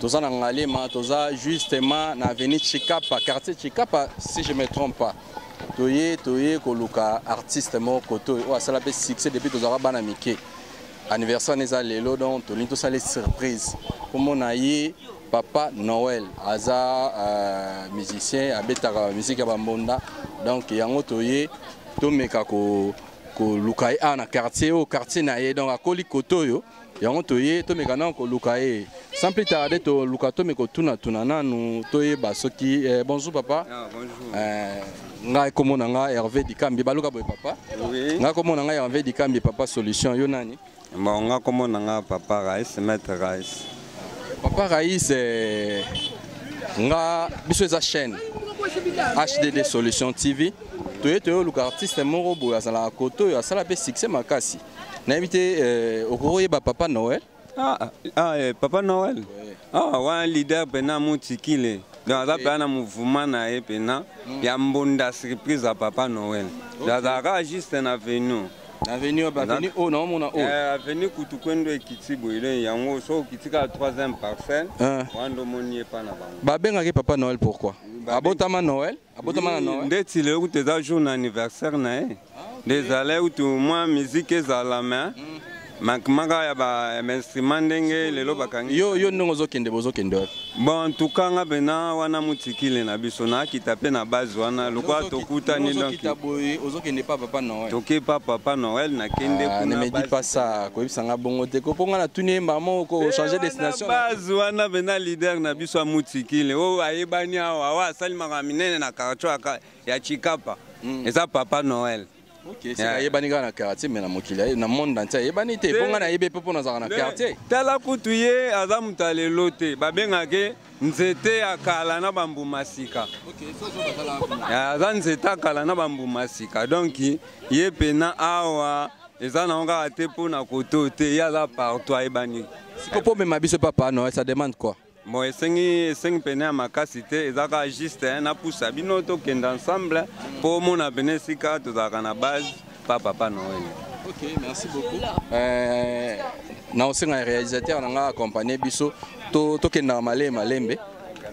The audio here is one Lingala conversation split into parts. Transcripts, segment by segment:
toza na ngalema toza justement na avenue chikapa quartier chikapa si je me trompe pas toye toye koluka artiste moko koto oyo asala mpe succès depuis tozalaka bana mike anniversaire wana eza lelo donc tolingi tosala ye surprise komona ye papa noel aza uh, musicien abetaka miziki ya bambonda donc yango toye tomeka koluka ko ye awa na quartier oyo quartier na ye donc akoli koto oyo yango toye tomeka nano koluka ye sans plus tarde toluka tome kotunatuna nanu toyeba soki eh, bonjour papa ah, bonjour. Eh, ngai kombo na ngai herve dikambi baluka boye papa oui. ngai kombo na ngai herve dikambi papa solution yo nani bon ngai kombo na ngai papa rais maître rais papa rais eh, nga biso eza chaîne hdd solution tv toye toyoluka artiste moko boye azalaka koto oyo asala mpe succès makasi nayebi te euh, okoki oyeba papa noel ah, ah, ah eh, papa noel ah, wana leader mpena motikile donc aza mpena na mouvement na ye mpena mm. ya mbonda surprise ya papa noel donc azala kaka juste na venu avenue avenue oyo naomona oyo eh, avenue kutu kwendo ekiti boyele yango soki okiti kaka 3 parcelle ah. wana ndomoni ye mpa na bango babengaki papa noel pourquoi abotama noel abotama na noe nde tile okuta eza jour na anniversaire na ye ah, nde ezala ekutu mwa miziki ezala me mm. makimaka ya bainstrument ndenge lelo bakangi yo, yo ndenge ozokende bozokende wapi bon tuka nga mpena wana motikile na biso nakita mpe na base wana lokola tokutani donozokende pa papa noel toke pa papa noel nakende ah, kunemedi pasa koyebisa nga bongo te ko mpo nga natuni ye mbala moko kochange eh, destination base wana mpena leader na biso biso amutikile oyo ayebani awa oyo asali makambo minene na kartio ya chikapa hmm. eza papa noel ayebani kaka na quartier me na mokili na monde entier ayebani te mpo ngai nayebi mpe mpo nazalaka na quartier tala kutu ye aza moto ya lelo te babengake nzete ya kala na bambuma sika aza nzete ya kala na bambuma sika donk ye mpena awa eza na kaka te mpo na koto te ye aza partout ayebani siko mpo omema biso papa no ça demande quoi bon esengi esengi pene ya makasi te eza kaka juste eh, napusa bino tokende ensemble mpo omona pene esika tozalaka na base pa papa noel okay, merci beaucoup euh, na osenga ya réalisateur na ngai accompagne biso tokendaka to malembe malembe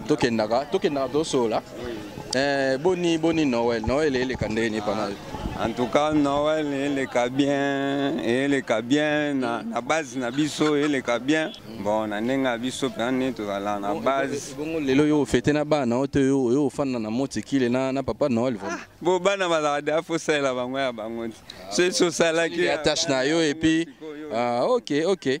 tokendaka tokendaka tosolola eh, boni boni noel noel eleka ndenge nini pana yo en tout cas noel eleka bien eleka bien na, na base na biso eleka bien bon na ndenge ya biso mpenza nde tozala na base bongo lelo yo ofete na bana oyo to yo oyo ofanda na motikile na, na papa noel vraiment ah, bo bana bazala deya fosalela bango ya bango ti soki sosalaki attache na yo epuis ah, ok ok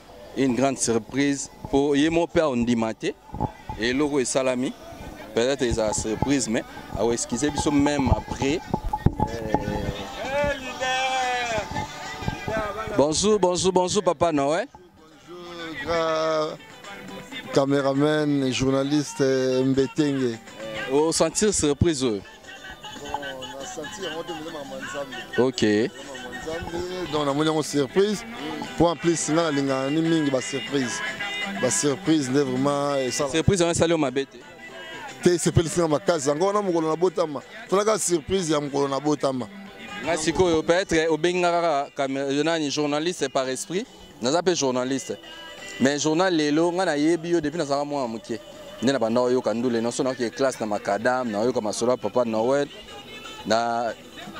une grande surprise mpo ye moko mpe aondima te eloko esalami peut-être ezala surprise mais aoexcuse biso même après bonjour bonjour bonjour papa noel bonjour, cameraman journaliste mbetenge osentir surprise oyo ok donc namoni yango surprise mpo en plus nga nalingaka ni mingi basurprise basurprise nde vraiment esala surprise wana esali yo mabe te te esepelisi nga makasi yango wana mokolo nabotama tolaka surprise ya mokolo nabotama nga sikoyo peut-être obengi nga kaka nani journaliste par esprit naza mpe journaliste mais journal lelo ngai nayebi yo depuis nazalaka mwana moke nde nabanda oyoka ndule nyonso nayoki classe na macadame nayoka masolo ya papa noel na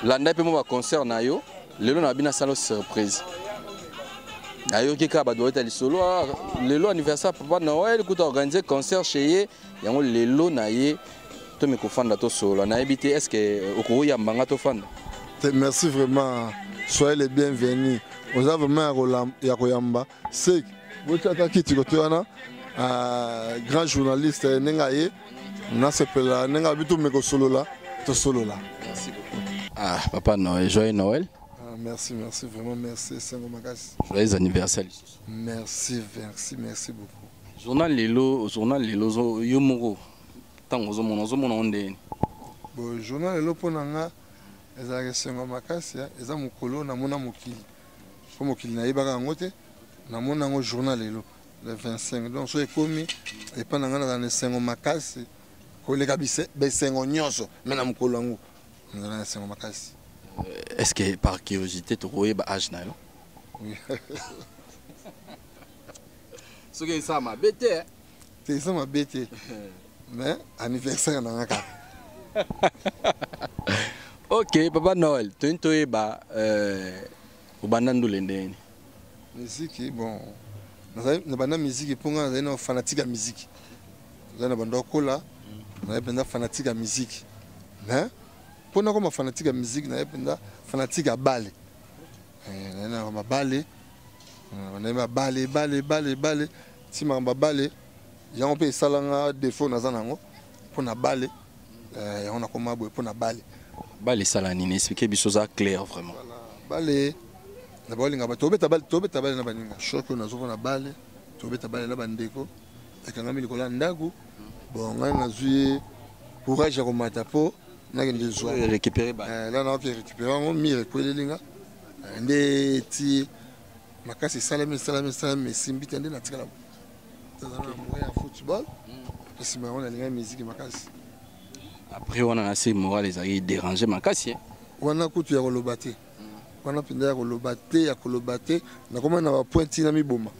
landai mpe mwa baconcert na yo lelo nabi nasala surprise nayoki kaka bato bayeta lisolo ah, lelo anniversaire papa noel kuta organise concert chez ye yango lelo na ye to mi kofanda to solo na yebi te est-ce que euh, okoki yamba nga to fanda merci vraiment soyez le bienvenu oza vraiment ya koyamba sek botiaka kiti kote wana euh, grand journaliste eh, ndenge aye nasepela ndenge abi tomi kosolola tosolola ah papa noel joyeux noel ah, merci merci vraiment merci esengo makasi joyeux anniversaire merci merci merci beaucoup journal lelo journal lelo yo moko ntango ozomona ozomona yango ndenge nini bo journal lelo mpo na nga ezalaka esengo makasi eza mokolo namona mokili mpo mokili nayebaka yango te namona yango journal lelo le 25 donc soki ekomi epa na ngai nazala na esengo makasi koleka besengo nyonso me na mokolo yango nazala na esengo makasi euh, est ce que par curiosité tokoyeba age na yo soki esala mabe te eh. te eza mabe te mais anniversaire na nga kaka ok papa noel toyini toyeba euh, obanda ndule ndeni miziki bon nabanda miziki mpo ngai nazali na fanatike ya miziki nazali na bando akola nazali mpenza fanatike ya miziki mais mpo nakoma fanatike ya miziki nazali mpenza fanatike ya bale eh, nazali na mabale eh, nazali mabale bale bale bale ti makambo ya bale yango mpe esalanga defo naza na yango mpo na bale eh, yango nakoma boye mpo na bale bale esala nini explike biso oza clair vraiment bale na baolinga ba tobeta bale tobeta bale na baninga shoke oyo nazoko na bale tobeta bale na bandeko ekangami likolo ya ndako bon ngai nazwi courage ya komata mpo nakende zwa eh, récupéré ba eh, là na récupéré yango mire ekweleli nga eh, nde ti makasi esalami esalami esalami mais esimbi te nde natikala naza na moyen ya football mpe nsima yango nalingaki miziki makasi après wana na se moral ezalaki dérange makasi eh? wana kutu ya koloba te wana mpenza ya koloba te ya koloba te nakomaki na bapointi na miboma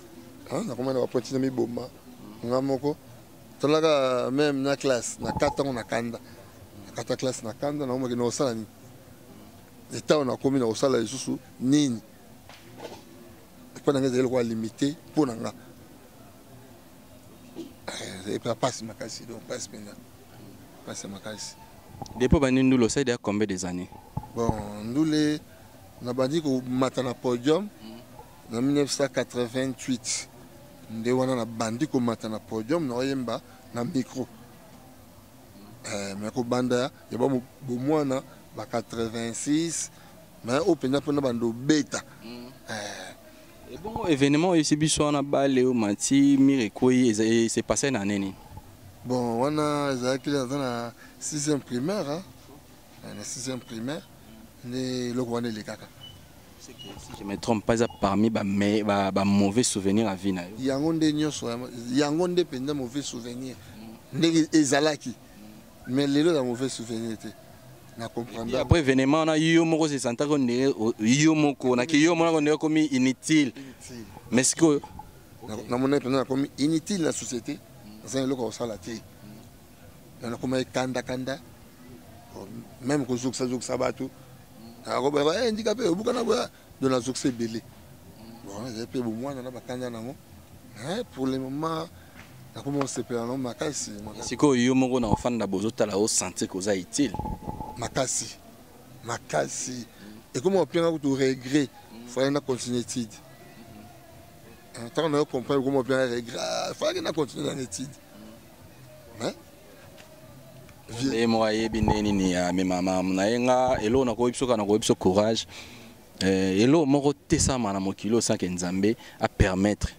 nakomaki na bapointi na miboma nga moko tolaka meme na classe na kata yango na kanda na kata classe na kanda nakomaki na kosala nini etango nakomi na kosala lisusu nini epai na ngai ezali lokola limite mpo na nga eh, epa pasi makasi donc pasi mpenza pasi ya makasi depo bandi ndule osaidi ya combien des années bon ndule nabandi komata na podium na 1988 nde wana nabandi komata na podium naoyemba na micro eh, me kobanda ya bomwana ba 86 mais oyo mpenza mpona bando obeta mm. eh. ebongo événement oyo esi biso wana bale oyo mati mire ekwei se passe na nini bon wana ezalaki naza na sixième primaire eh, na sixième primaire nde eloko wana elekaka si je me trompe pas eza parmi bamauvais ba, ba souvenir ya vie na yo yango nde nyonso yango nde mpenza mauvais souvenir mm. ndenge ezalaki mais lelo ya mauvais souvenir te na comprendre après événement na yo moko se santa ko ndenge yo moko na ki yo mona ko ndenge komi inutile mais siko na mona pena na komi inutile na société za eloko osala te na na komi kanda kanda même ko zokisa zokisa batu na ko ba eh ndika pe obukana boya do nazokisa ebele bon ezali mpe bomwana na bakanda nango mais pour le moment nakomi kosepela nango makasi sikoyo yo moko na ofanda bozotala osentir koza utile makasi makasi ekomi openga kutu regret fallait na continue étude ntango nayo comprendre ekomi openga regret fallait na continue na étude ye moko ayebi nde nini amema mamu na ye nga eloko nakoyebi soka nakoyebi so courage eh, eloko moko tesama na mokili oyo sanke nzambe apermettre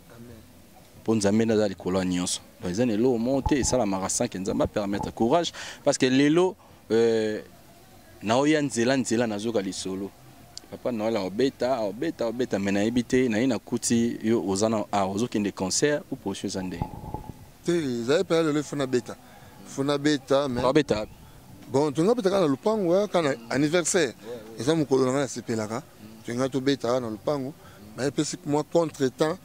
mpo nzambe nde aza likolo ya nyonso eza na eloko moko te esalamaka sanke nzambe apermettre courage parce que lelo euh, naoya nzela nzela nazoka lisolo papa noel aobeta aobeta aobeta me nayebi te naye nakuti yo oza na a ozokende concert ou prochain eza ndenge te ezali mpena lelo ifo nabeta ifo nabeta mabeta bon tolingi abeta kaka na lopango kaka na anniversaire eza mokolo na ngai nasepelaka tolingi mm. tobeta kaka na lopango me epesi mwa contre temps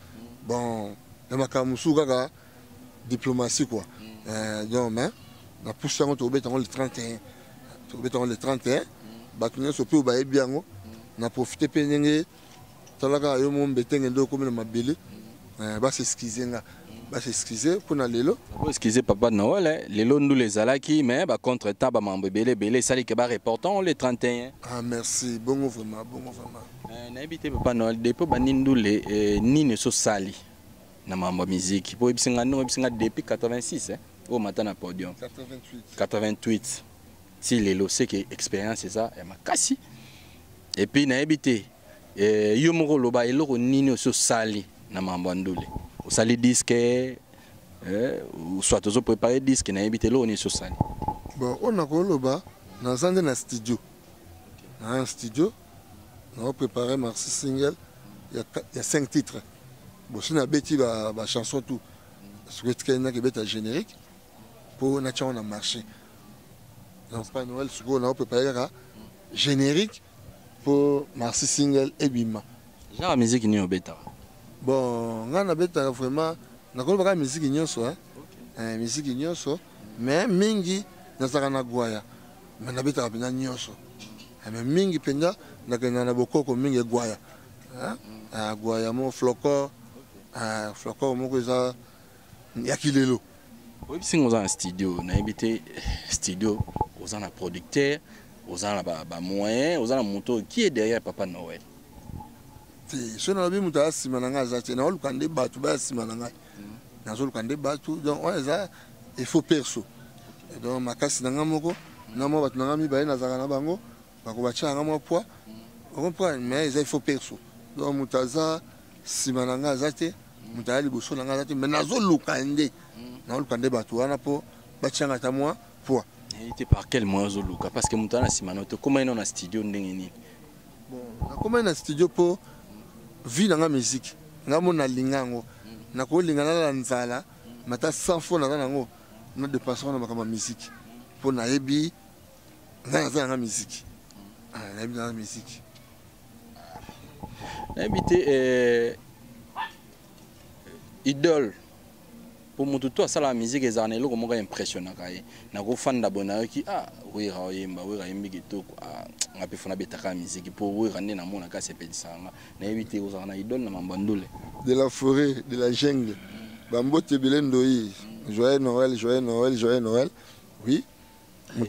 bon na makambo mosusu kaka diplomatie quoi mm. euh, donc mais na pusi yango tokobeta yango le 31 tokobeta yango le 31 bato nyonso mpe oyo bayebi yango na profite mpe ndenge talaka yo mo mbetenge nde okomi na mabele euh, bas excuse nga bas excuse mpo na lelo excuse papa noel eh. lelo ndula ezalaki mais bacontre temps bamambo ebele ebele esali ke bareportant le 31 ah merci bongo vraiment bongo vraiment euh, nayebi te papa noel depo bandi ndule eh, nini ososali na mambo ya miziki mpo oyebisi nga ndenge oyebisi nga depuis 86 eh? oyo mata na podium 88, 88. ti lelo seke expérience eza ya makasi epuis nayebi te eh, yo moko oloba eloko nini osi osali na mambo ya ndule osali diske eh, soit ozo prépare diske nayebi te eloko nini osi osali bon oyo nakoloba naza nde na studio na studio na prepare marsi single ya, ya 5 titre bosi nabeti ba, ba chanson tout soki etikali naki ebeta générique mpo natyango na marché donc pa noel sikoyo na prepare kaka générique mpo marsi single ebima genre ya miziki nini obetaka bon ngai nabetaka vraiment nakoloba kaka miziki nyonso hein? okay. eh, miziki nyonso mais mingi nazalaka na gwaya mais nabetaka mpenza nyonso eh, mais mingi mpenza nakenda na bokoko mingi egwaya eh, eh, gwaya mo flocor flocor moko eza ya kilelo oyebisi nga oza na studio nayebi te studio oza na producteur oza na bamoyen ba oza na moto oyo qui est derrière papa noël te soki nalobi moto aya nsima na ngai aza te naoluka nde bato baya nsima na ngai nazoluka nde batu donc wana eza efo perso donc makasi na ngai moko na mwa bato na ngai mibale nazalaka na bango bakobatya nanga mwa poids ocomprendre mais eza efo perso donc moto aza nsima na ngai aza te moto aya liboso na ngai aza te mais nazoluka nde nazoluka nde bato wana mpo batya ngai ata mwa poids te par quel moyen ozoluka parce que moto wana na nsima na yo te okoma ye nao na studio ndenge nini Bon, nakomaki na studio mpo vie na nga musique nga mo nalinga yango nakolinga nalala nzala mata 100 fo naza na yango na depense wana makambo ya musique mpo nayebi nga naza nanga musique ah, nayebi naza musique nayebi te eh, idole po mutu to asala musique ezala na eloko moko impressionnaka ye na ko fanda boye nayoki ah wera oyemba wera yembi kitoko ah nga pe fona betaka musique po wera nde na mona ka sepelisa nga na yebi te ozala na idole na mamba ndule de la forêt de la jungle ba mbote bile ndoyi joyeux noël joyeux noël joyeux noël oui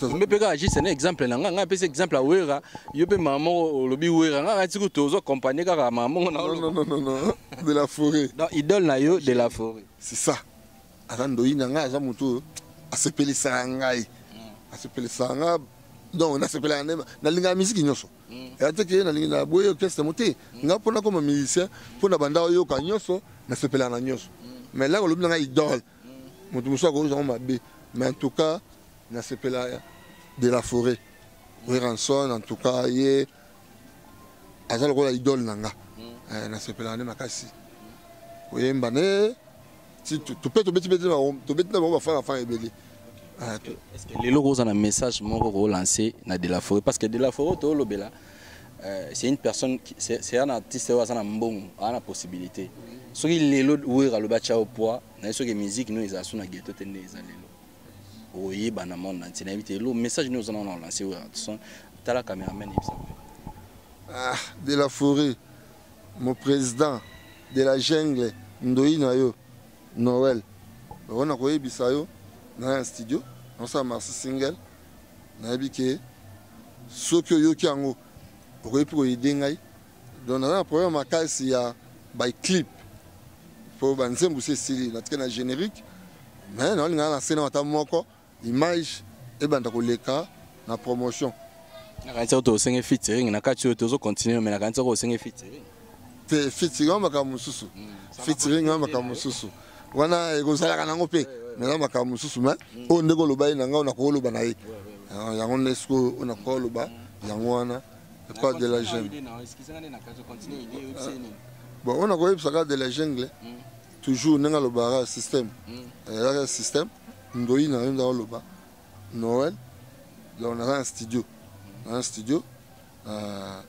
ombe mpe kaka juste na exemple na ngai ngai apesi exemple ya wera yo mpe mama moko olobi wera ngai ngai tiku tozo accompagne kaka mama moko na de la forêt donc idole na yo de la forêt c'est ça aza ndoyi na ngai aza motu oyo asepelisaka ngai mm. asepelisaka ngai donc nasepelaka nde nalingaka miziki nyonso mm. eya te ke nalingi na boye orchestre mo te mm. ngai mpona koma musicien mpo na banda oyoka nyonso nasepelaka na nyonso mais laka olobi na ngai idole moto mosusu akoyoka yango mabe mais en tout cas nasepela de la forêt weranson en tout cas ye aza lokola idole na nga eh, nasepelaka nde makasi koyemba ne tope tobeti beti tobeti na bango bafanga fanga ebele ah, lelo oza na message moko kolanse na de la forêt parce que de la forêt toolobela Euh, c'est une personne c'est un artiste oyo aza na mbongo aza na possibilité soki lelo wera alobi atya yo poids naye soki musique no ezala so na ghetto te nde eza lelo oyeba na monde nanti nayebi te elo message nde oza na wana olance wera son tala cameraman yebisa ah, de la forêt mon président de la jungle ndoyi na yo noel bango nakoyebisa yo na ya studio nosala marsi single nayebi ke soki oyoki yango okoki mpe koyede ngai donc naza na problème makasi ya baclip mpo banzembo si esili natike na générique mais naolingana na sena ata moko image ebanda koleka na promotion nakanisi oyo tosenge featuring na kati oyo tozo continue me nakanisi oyo osenge featuring te featuring yango makambo mosusu featuring yango makambo mosusu wana ekozalaka nango mpe naza makambo mosusu me mm. oyo ndenge oloba ye na ngai ona kooloba na ye ah, yango nde sikoyo ona kooloba yango wana epa de la jeune bon ona koyebisaka de la jungle mm. toujours ndenge alobaka système mm. ezalaka système ndoyi na yo nde oloba noël donc naza na studio naza na studio Uh,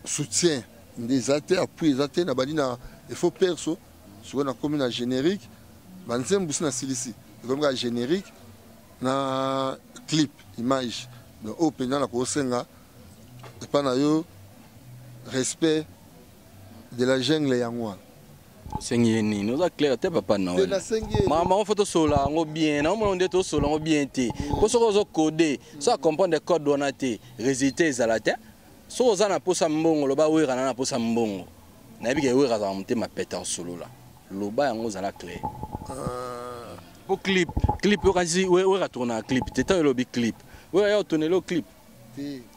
soutien nde eza te appui eza te nabandi na efo perso sikoyo nakomi na générique banzembo si nasilisi ekomi kaka générique na clip image donc oyo mpenza nakosenga epai na yo respect de la jungle yango wana osengi ye nini oza claire te papa noel makambo yango fo tosolola yango bien naomona nde tosolola yango bien te mpo soki ozo code so acomprendre code wana te résultat ezala te soki oza na mposa mbongo loba wera na na mposa mbongo nayebi ke wera azala motema pete akosolola loba yango ozala claire ah. po clip clip okanisi wera tournaka clip te ntango elobi clip wera ya otonelo clip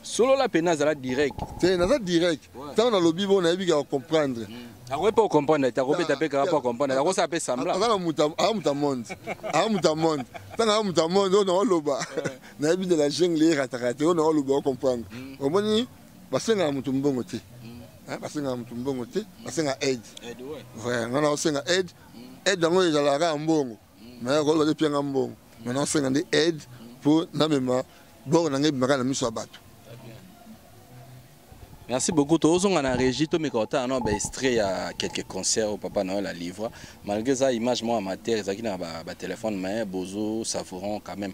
solola mpe nazala direct te naza direct ntango nalobi bo nayebi kaka comprendre hmm. akoki mpe okomprendre te akobeta mpe kaka mpo akomprendre akosala mpe sembla aza muta monde aza muta monde ntango aza muta monde oyo naoloba nayebi de la jungle erataka te oyo naoloba okomprendre hmm. omoni basengaka moto mbongo te hmm. basengaka moto mbongo te basengaka aide nga naosenga aide aide yango ezalaka kaka mbongo mais koloba te pianga mbongo mais nasenga nde aide mpo namema bor na ngai ebimaka na miso ya bato merci beaucoup tozonga na régie tomeka otala na baestrait ya quelques concert oyo papa noel alivra malgré eza image moko ya matière ezalaki na batelefone mais bozo savouron quand même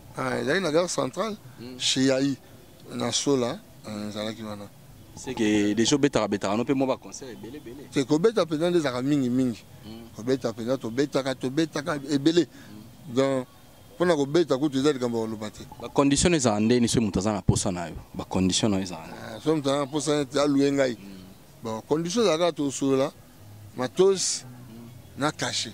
Ah, ezalaki na gare centrale hmm. chez yai na sola eh, ezalaki wana seke deja obetaka betaka no mpe mwa baconcert ebele ebele te kobeta mpenza nde ezalaka mingi mingi hmm. kobeta mpenza tobetaka tobetaka ebele hmm. donc mpona kobeta kutu eza likambo ya koloba te bacondition ezala ndeni soki moto aza na posa na yo bacondition na yo ezala ah, soki moto aza na posa neti alue ngai bon condition ezalaka tosolola matos na cachet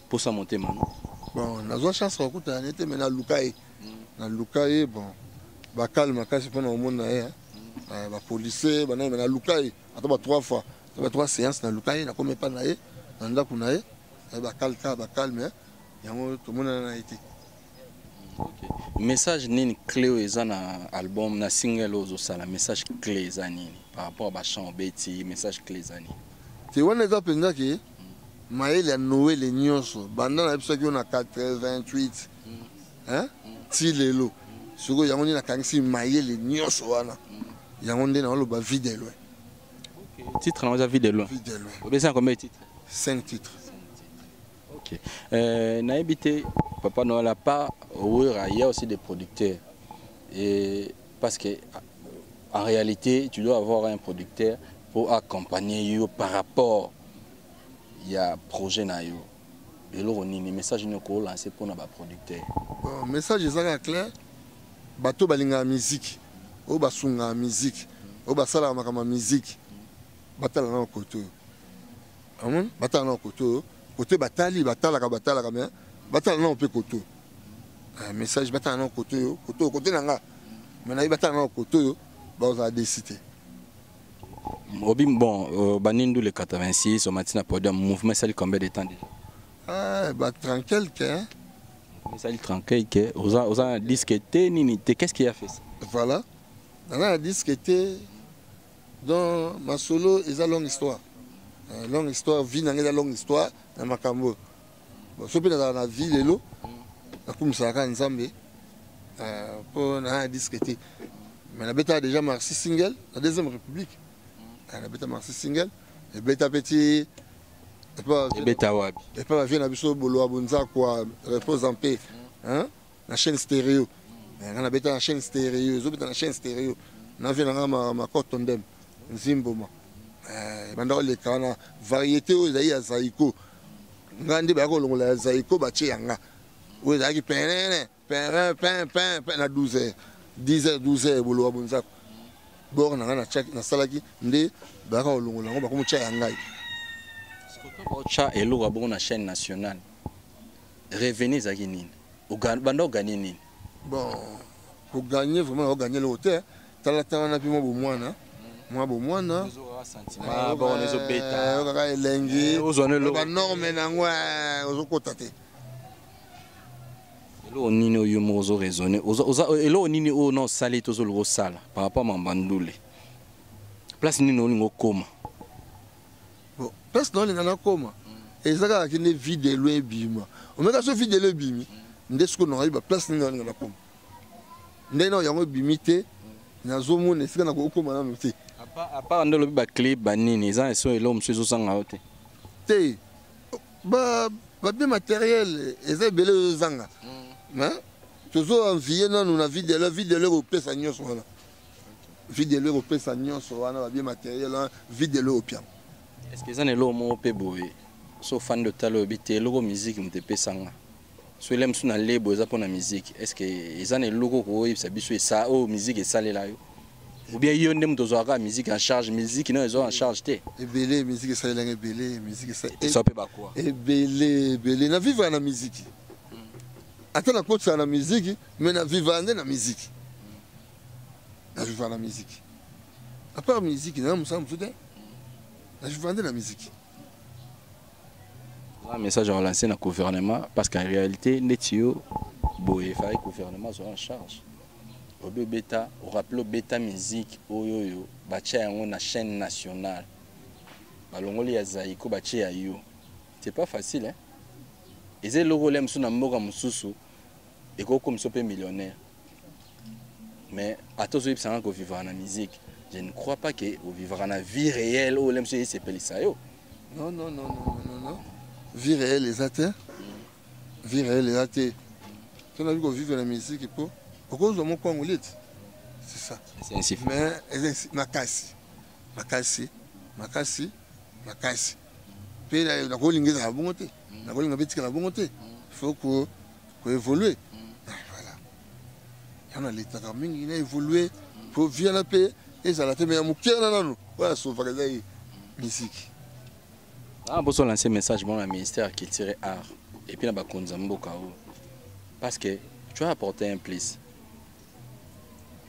posa motema no bon nazwa chance kokutana na ye te mai naluka ye naluka ye bon bakale makasi mpo na komona ye bapolisier banani mai naluka ye ata ba trois fois ata ba trois séance naluka ye nakomi epai na ye na ndako na ye bakale kaka bakale mai yango tomonana na ye te message nini clé oyo eza na album na single oyo ozosala message clé eza nini par rapport ba chant obeti message clé eza nini te wana eza mpenza ke mayele ya noele nyonso banda na biso akio na 88 hein? ti lelo sikoyo yango nde nakangisi mayele nyonso wana yango nde naoloba vie de loin titre na oza vie de loin obesana combien titre 5 titres Ok. Euh, nayebi te Papa Noël à part Wera, il y a aussi des producteurs. Et parce que en réalité, tu dois avoir un producteur pour accompagner yo par rapport ya projet na yo. eloko nini message nini okolanse mpo na baproducteur bon, message eza kaka clair bato balingaka miziki oyo basungaka miziki oyo basalaka makambo ya miziki batala nano kote oyo amoni batala nao kote oyo kote batali batalaka batalaka me batala nao mpe kote oyo ah, message batala nao kote oyo kote oyo kote na nga me nayebi batala nao kote oyo bakozala desi te obi bon euh, banindu le 86 omati na podium mouvement esali combien de temps déjà ah, ba 30 quelque hein? esali 30 quelque oza, oza na disque te nini te qu'est ce qui a fait ça voilà naza na disque te Donc masolo eza longue histoire. Euh, longue histoire vie nanga eza longue histoire na makambo. Bon so pe nazala na vie lelo nakumisaka kaka Nzambe euh, mpo na disque te. Mais nabetaka déjà Marsi single na deuxième république. Euh, nabeta Marsi single ebeta pe ti ebeta wapi? Epa bavie na biso boloa bonzakwa repose en paix. Hein? na chaîne stereo eh, nga nabeta na chaîne stereo ezobeta na chaîne stereo navi na nga makoto ndem nzimboma eh, ebanda koleka wana variété oyo ezali ya zaiko nga nde baya kolongola ya zaiko batie ya nga oyo ezalaki penene perin pin pin pin na 12 heures 10 heures 12 heures boloba bonzako bor na nga nasalaki nde bayaka kolongola yango bakomotya ya ngai otya eloko ya bongo na chaîne nationale Revenu ezalaki nini? Banda oganye nini? Bon, koganye vraiment na oganye eloko te talatala wana mpe mwa bomwana mwa bomwana oyokaka elengi eh, banorme na yango eh, ozokota te eloko nini oyo moko ozo raisonne eloko nini oyo na osali te ozoluka osala par rapport mamba ndule place nini olingi okoma bon place na olinga nakoma eza kaka ke nde vie de loin ebima omeka so vie de loin ebimi nde soki onokabi baplace nini olinga nakoma ndenge nao yango ebimi te nazomona esika nakokoma nano te apart nde olobi baclip banini eza eso eloko mosusu ezosanga yo te te babie matériel eza ebele ezozanga mm. tozo envie nano na vie de loin vie de loin ekopesa nyonso wana videlo ekopesa nyonso wana babie materiel wana videlo opiam est-ce que eza na eloko moko mpe boye so ofandi otala oyebi te eloko miziki moto epesanga so ele mosusu na lebo eza mpona miziki est ce que eza na eloko okoyebisa biso esa oyo oh, miziki esalela yo obien yo nde moto ozwaka kaka miziki en charge miziki nayo ezwaka en charge te ebele miziki esalelanga ebele miziki esa mpe bakwa ebele ebele na vivre na miziki ata na kotisa na miziki Mais na viva nde na musique. Na viva na musique. À part musique, na musala mususu te. Na viva nde na musique. Un message à lancer na gouvernement parce qu'en réalité, Netio, boye, il gouvernement soit en charge. Obe beta, au rappel beta musique, oyo yo, batia yango na chaîne nationale. Balongoli ya Zaiko batia yo. C'est pas facile hein. Eze loko lem suna mboka mususu. Eko komiso pe millionnaire. Mais ata ozo yebisa nga ko vivre na musique, je ne crois pas que o vivre na vie réelle ou lemso yese pelisa yo. Non non non non non non. Vie réelle eza te. Vie réelle eza te. Tuna biko vivre na musique po okozwa moko yango leti. C'est ça. C'est ainsi. Mais eza makasi. Makasi. Makasi. Makasi. Pe na ko lingeza bongo te. Na ko linga betika na bongo te. Faut que ko évoluer voilà yango naletaka mingi na évoluer mpo vie wana mpe ezala te me ya moke wana nano oyo asovaka eza ye misiki ah, boso lance message mona ministère ya culture art epuis na bakonzi ya mboka oyo parce que tu as apporté un plus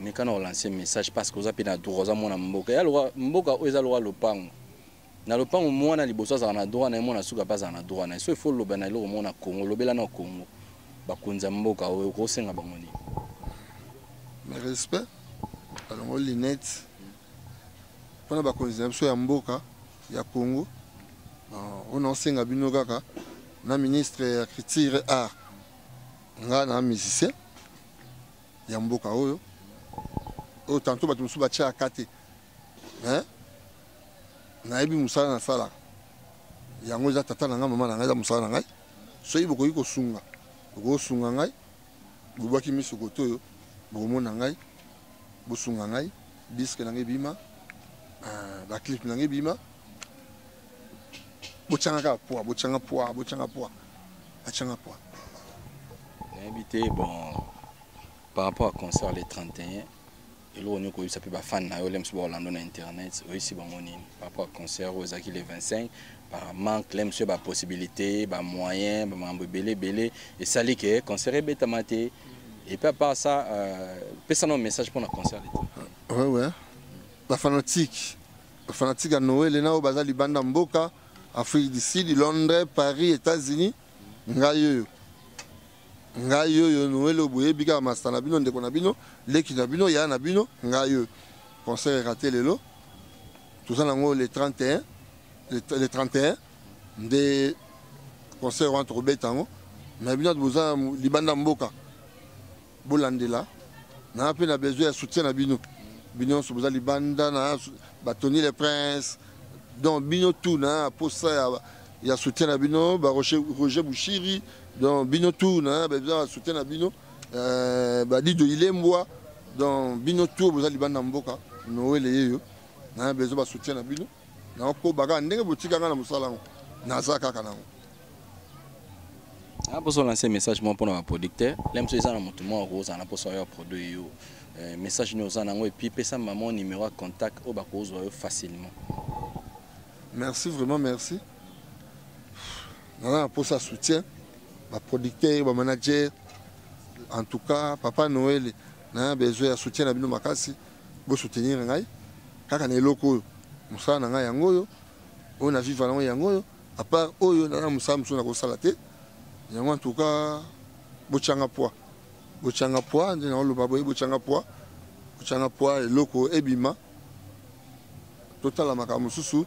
mekana olancer message parce que oza mpe na droit oza mwana mboka ya loka mboka oyo eza loka lopango Na lopango muana liboso azalaka na droit naye muana suka pe azala na droit naye soki faut oloba na eloko moko na congo lobela nao congo bakonzi ya mboka oyo okosenga bango nini na respect balongo linette mpona bakonzi na biso ya mboka ya congo oyo naosenga bino kaka na ministre ya culture art nga na musicien ya mboka oyo oyo tanto bato mosusu batyaka te nayebi mosala nasalaka yango eza tata na ngai mama na ngai eza mosala na ngai soki bokoki kosunga bokosunga ngai bobwaki miso koto oyo bokomona ngai bosunga ngai diske na ngai ebima ah, baclipe na ngai ebima botyanga kaka pwa botyanga pwa botyanga pwa atyanga pwa nayebi te bon par rapport à concert le 31 eloko nini okoyebisa mpe bafani na yo lems ba orlando na internet oyebisi bango nini par rapport ya concert oyo ezalaki le 25 par manque lems yo bapossibilité bamoyen bamakambo ebele ebele esali ke concert ebetama te epuis apart ça euh, pesa nao message mpo na concert leta wewe bafanatike bafanatike ya noele na oyo baza libanda mboka afrique du sud londres paris états-unis ngai oyo ngai oyo noel oyo boyebi kaka masta na bino ndeko na bino leki na bino yaya na bino ngai oyo concert erate lelo toza nango le 31 le 31 nde concert wana tokobeta yango na bino ati boza libanda mboka bolandela naa mpe na besoin ya soutien na bino bino nyonso boza libanda na batoni le prince donc bino tout na posa ya, ya soutien na bino baroger bushiri donc bino tour na besoin ya soutien na bino euh, badido ilembwa donc bino tour boza libanda mboka noele yeyo na besoin basoutien na bino nakokoba kaka ndenge botika ngai na mosala yango naza kaka nango naposa olanse message moko mpona baproducteur lemso eza na moto moko akozala na mposa oyo aproduit yo euh, message nini oza nango epuis pesa mama numero ya contact oyo bakozwa yo facilement merci vraiment merci naza na mposa soutien baproducteur bamanager en tout cas papa noel na besoin ya soutien na bino makasi bosoutenir ngai kaka na eloko oyo mosala na ngai yango oyo oyo na viva nango yango oyo apart oyo naza na mosala mosusu nakosala te yango en tout cas botyanga poids botyanga poids nde naoloba boye botyanga poids botyanga poids eloko ebima totala makambo mosusu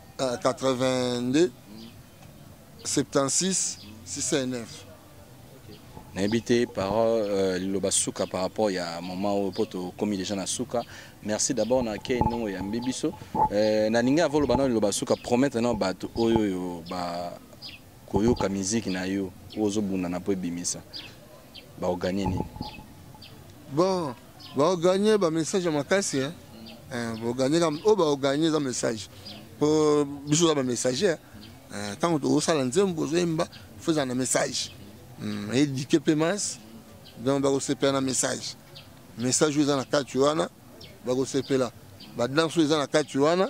82 76 69 nayebi te parole euh, liloba suka par rapport ya moment oyo mpo tokomi déjà na suka merci d'abord na kei ndongo oyambi biso euh, nalingi avo oloba nao liloba suka promettre nao bato oyo oyo bakoyoka miziki na yo oyo ozobundana mpo ebimisa baoganie nini bon Bao gagner ba message ya makasi hein. Eh, bo gagner kam o oh, bao gagner za message. Po biso za ba messager. Eh, tango to sala nzembo zo yemba faut za na message. Hmm, éduquer pe masse. Donc ba ko sepela na message. Message oyo eza na kati wana ba ko sepela. Ba danse oyo eza na kati wana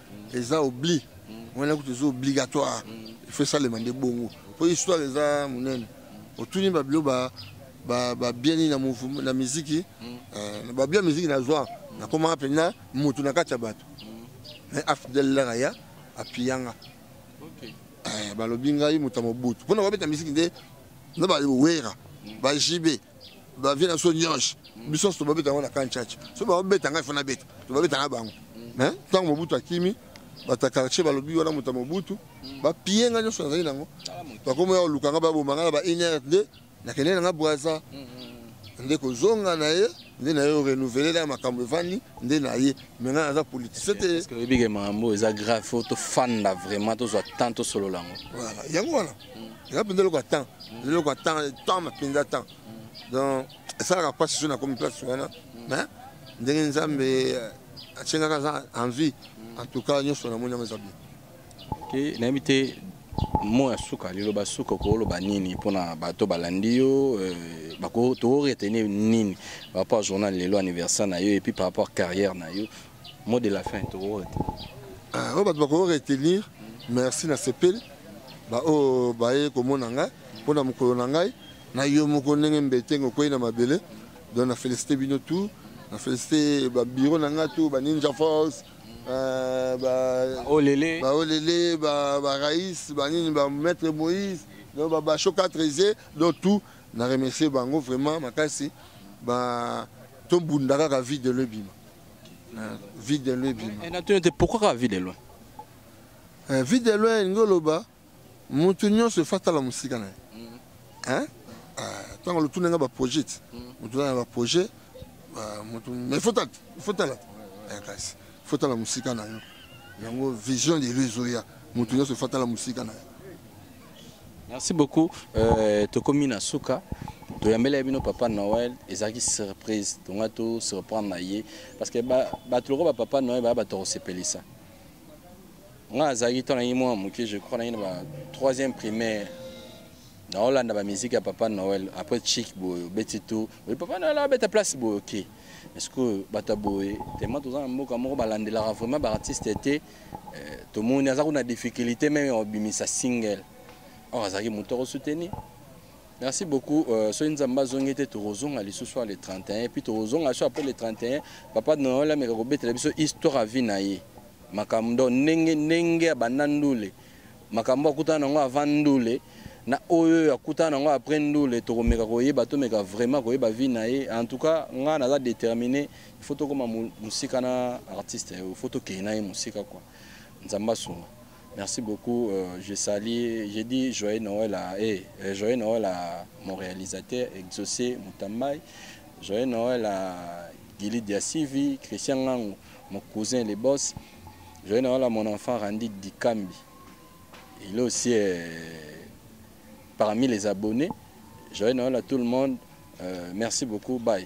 eza obli wana kutu eza obligatoire il faut esalema nde bongo mpo histoire eza monene otuni babilo babieni na miziki eh, babio ya miziki nazwa nakomaka mpenza motu na kati ya bato mais afidel laka ya apiyanga eh, balobi ngai moto ya mobutu mpo na babeta miziki nde na bawera bajibe ba vie na so nyosh biso so babeta ngo na kan church so ba beta ngai fona beta to babeta na bango hein tango mobutu akimi bata quartier balobi wana moto mobutu ba pie ngai nyoso nazali nango bakomo ya luka nga ba boma nga ba iner de na kende na nga bwaza nde kozonga na ye nde na ye orenouveler na makambo evandi nde na ye me ngai naza politicien te oyebike makambo eza grave fo tofanda vraiment tozwa temps tosolola yango yango wana eza mpenza eloko ya temps eza eloko ya temps temps mpenza temps donc esalaka mpasi so nakomi place wana mais ndenge nzambe atie kaka aza en vie en tout cas nyonso namoni yango eza bien te nayebi te mo ya suka liloba suka okoloba nini mpona bato balandi yo euh, tokoretenir nini par rapport journal lelo anniversaire na yo epuis par rapport carrière na yo Mot de la fin, tu vois. Ah, oh, bah, tu vas retenir. Merci, na sepel. Bah, oh, bah, eh, comme on a nga, on a mon colon nga, na yo mon colon nga, mbete, ngo, quoi, na ma belle. Donc, na félicité bino tout. Na félicité, bah, bureau na nga tout, bah, Ninja Force. Euh, bah, bah, olele. Bah, olele, bah, bah, Raïs, bah, nini, bah, maître Moïse. Donc, bah, bah, chocat, trésé, donc tout. Na remercier, bah, vraiment, ma casse, bah, tout le monde, la vie de l'obima. Euh, vie de loin ebima eh, natuni ete pourquoi kaka vie de loin euh, vie de loin elingi oloba moto nyonso efa tala mosika na ye mm. ntango euh, lotuna nga baprojet ti moto mm. na baprojet moto mais fotala kasi fotala mosika na yo yango vision de lo ezoya moto nyonso efa tala mosika na yo Merci beaucoup. Euh, tokomi na suka. toyambelaki bino papa noel ezalaki surprise tonga to surprendre na ye parce que bato lokola bapapa noel baya bato ya kosepelisa nga azalaki ntango nangi mwana moke je crois nangi na ba troisième primaire naolanda bamiziki ya papa noel après chik boye obeti tour oye papa noel abeta place boye oke okay. parceque bato ya boye tema toza na mboka moko balandelaka vraiment baartiste te eh, tomoni aza kuna difficulté meme ya kobimisa single or azalaki moto akosoutenir merci beaucoup euh, soki nzambe azongi te tokozonga lisusu le 31 puis tokozonga lisusu après le 31 papa noel ameka kobetela biso histoire ya vie na ye makambo donc ndenge ndenge abanda ndule makambo akutana nango avant ndule na oyo oyo akutana nango après ndule tokomeka koyeba tomeka vraiment koyeba vie na ye en tout cas ngai naza déterminé il faut tokoma musika na artiste il faut tokei na ye musika quoi nzambe asunga merci beaucoup euh, je sali j'ai dit joyeux noël à hey, eh, euh, joyeux noël à mon réalisateur exaucé mutambai joyeux noël à gili diasivi christian ngango mon cousin les boss joyeux noël à mon enfant randi dikambi il est aussi euh, parmi les abonnés joyeux noël à tout le monde euh, merci beaucoup bye